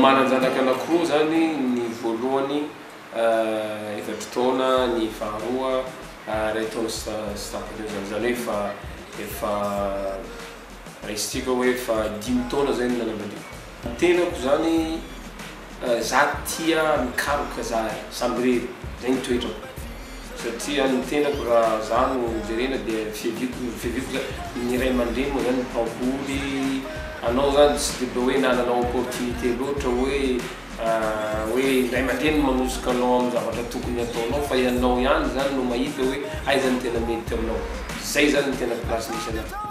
Manan-janaka anankiroa izany, ny voalohany efatra taona, ny faharoa iray taona sy tapany eo izany, izany hoe efa efa raisitsika hoe efa dimy taona izay no nanambadiako. Ny tenako zany za tia mikaroka zahay samy irery zay ny toetrako satria ny tenako ra za no jerena de fiaviako fiaviako za ny iray mandreny mo zany mpaboly anao zany tsy de be oe nanana opportunité loatra oe oe iray mandreny no manosika anao am zavatra tokony ataonao fa ianao ihany zany no mahita oe aiza no tena mety aminao zay zany no tena place misy anah.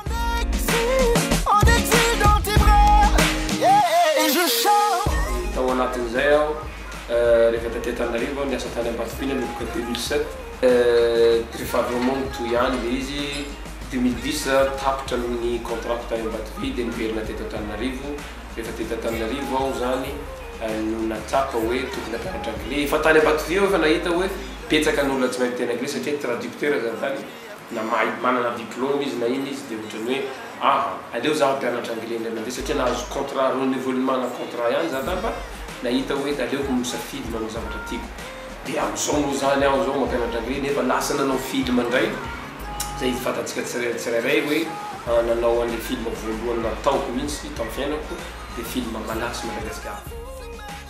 Tao anatin'izay aho rehefa taty Antananarivo aho niasa tany Ambatofiana nanomboka deux mille sept rehefa avy eo moa nitohy ihany le izy deux mille dix za tapitra ny contrat-ko tany Ambatovy de niverina teto Antananarivo rehefa teto Antananarivo aho zany no natsapa hoe tokony hampianatra anglais efa tany Ambatovy aho efa nahita hoe betsaka ny olona tsy mahay miteny anglais satria traducteur zany tany na mahay manana diplôme izy na inn izy de otrany hoe aha aleo za hampianatra anglais indray mandeha satria nahazo contrat renouvellement na contrat ihany za zany fa nahita hoe aleoko misafidy manao zavatra tiako de amzao moa zany aho zao mampianatra anglais nefa lasa nanao film indray zay izy fantatsika tsirairay hoe nanao anle film voalohany nataoko mintsy tam fiainako de film malagasy Madagascar.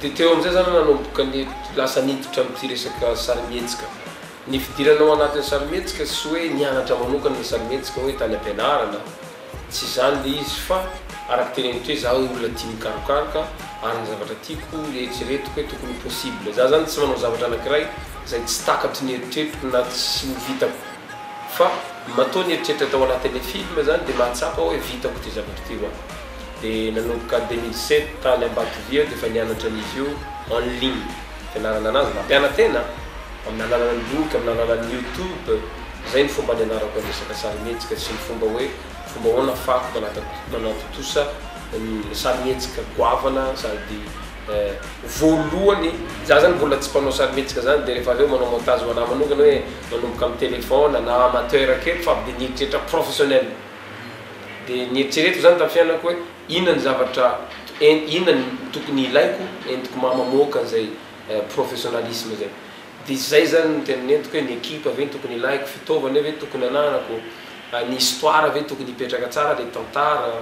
Dia teo amin'izay izaho no nanomboka lasa niditra amin'ity resaka sarimihetsika. Ny fidirana ao anatin'ny sarimihetsika tsy hoe nianatra manokana ny sarimihetsika hoe tany am-pianarana, tsy izany ilay izy fa araka teny amin'ity hoe izaho olona tia mikarokaroka ary ny zavatra tiako eritreretiko hoe tokony ho possible. Izaho izany tsy manao zavatra anankiray izay tsy takatry ny eritreritro na tsy ho vitako. Fa matoa ny eritreritra tao anatin'ilay film zany dia mahatsapa hoe vitako ity zavatra ity ho'a. Dia nanomboka deux mille sept tany Ambatovy aho dia efa nianatra an'izy io en ligne. Fianarana anazy, nampiana-tena amin'ny alalan'ny boky, amin'ny alalan'ny youtube. Izay ny fomba nianarako ny resaka sarimihetsika sy ny fomba hoe fomba ahoana ahafahako manatontosa sarimihetsika goavana sady. Eh, voalohany za zany mbola tsy mpanao sarimihetsika zany de rehefa avy eo manao montage ho anahy manokana hoe manomboka amin'ny téléphone na amateur kely fa avy de nieritreritra professionnel. De nieritreretiko zany tamin'ny fiainako hoe inona ny zavatra en- inona ny tokony ilaiko entiko mba mamoaka an'izay eh professionnalisme zay. De zay zany no tena nentiko hoe ny ekipa ve no tokony ilaiko, fitaovana ve tokony ananako, ny histoire ve tokony hipetraka tsara le tantara,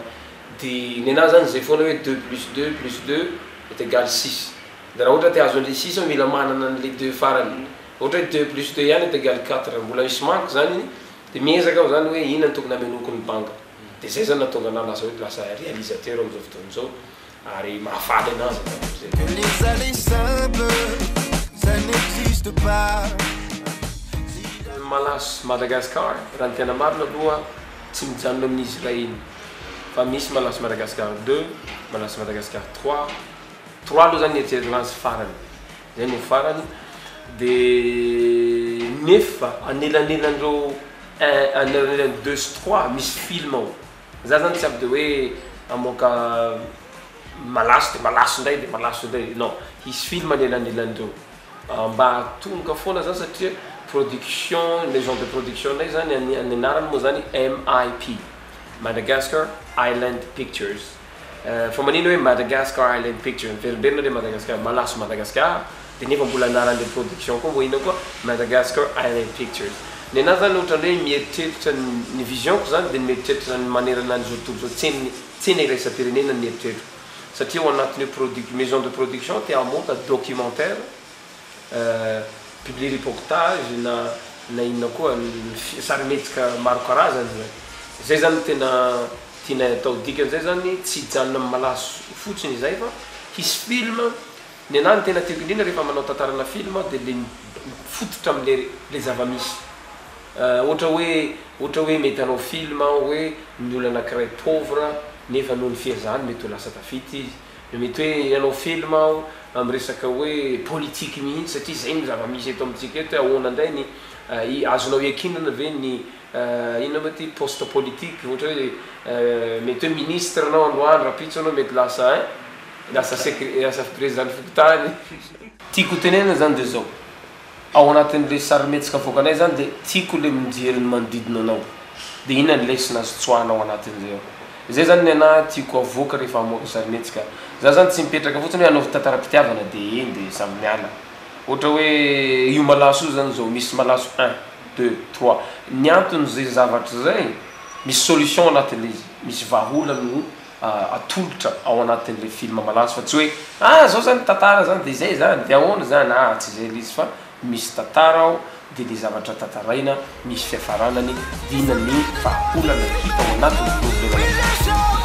Dia nenaha zany izay foana hoe deux plus deux plus deux est egal six. Dia raha ohatra te hahazo an'ilay six aho mila manana an'ilay deux farany. Raha ohatra hoe deux plus deux ihany est egal quatre mbola misy manque zany iny dia miezaka aho zany hoe inona no tokony hamenoako ny banga. Dia zay zany nahatonga anah lasa hoe lasa réalisateur amin'izao fotoana izao ary mahafaly anah zay zavatra zay. Que les allez simple ça n'existe pas. Malas Madagascar raha ny tena marina aloha tsy mijanona amin'izy ireny. fa misy Malaso Madagascar deux, Malaso Madagascar trois, trois aloha zany eritreretina azy farany, zay no farany, de nefa anelanelan'ireo un anelanelan'ny deux sy trois misy film ao, za zany tsy avy de hoe hamoaka Malaso de Malaso indray de Malaso indray non, hisy film anelanelan'ireo, mba hatomboka foana zany satria production, maison de production-nay zany ny anarany moa zany MIP. Madagascar Island Pictures fa manino hoe Madagascar Island Pictures? Miverimberina re Madagascar, malaso Madagascar de nefa mbola anaran'le production koa vao inona koa Madagascar Island Pictures. Ny anahy zany ohatran'ny hoe mieritreritra ny vision-ko zany de ny mieritreritra ny manerana an'izao tontolo izao, tsen'ny tsena iraisam-pirenena ny eritreritro satria ao anatin'io produc- maison de production te hamonta documentaire, publie reportage na na inona koa sarimihetsika maro karazany zany zay zany no tena tianay atao dikan'izay zany tsy hijanona amin'ny malaso fotsiny izay fa hisy film nenahy ny tena tiako indrindra rehefa manao tantarana film aho dia le mifototra amle le zavamisy ohatra hoe ohatra hoe mety hanao film aho hoe ny olona anakiray pauvre nefa noho ny fihezahany mety ho lasa tafita izy Mety hoe hanao film aho amin'ny resaka hoe politique mihitsy satria izay no zava-misy eto amintsika eto hoe ahoana indray ny azonao iankinana ve ny inona moa ity poste politique ohatra hoe mety hoe ministre anao androany rahampitso anao mety lasa ein lasa secr lasa prezidan'ny fokontany. Tiako ho tenenina izany dia izao. Ao anatin'ilay sarimihetsika avoakanay izany dia tiako ilay mijery ny manodidina anao dia inona ny lesona azo tsoahina ao anatin'izay ao. Izay izany ny anahy tiako avoaka rehefa hamoaka sarimihetsika. Izaho izany tsy mipetraka fotsiny hoe hanaovy tantaram-pitiavana dia eny dia samy miala. Ohatra hoe io malaso io izany izao, misy malaso un, deux, trois. Ny anton'izay zavatra izay, misy solution ao anatin'ilay izy, misy vahaolana. atolotra ao anatin'ilay film malaza fa tsy hoe ah zao zany tantara zany de zay zany de ahoana zany ah tsy zay le izy fa misy tantara ao de le zavatra tantaraina misy fiafaranany de inona ny vahaolana hita ao anatin'ny problema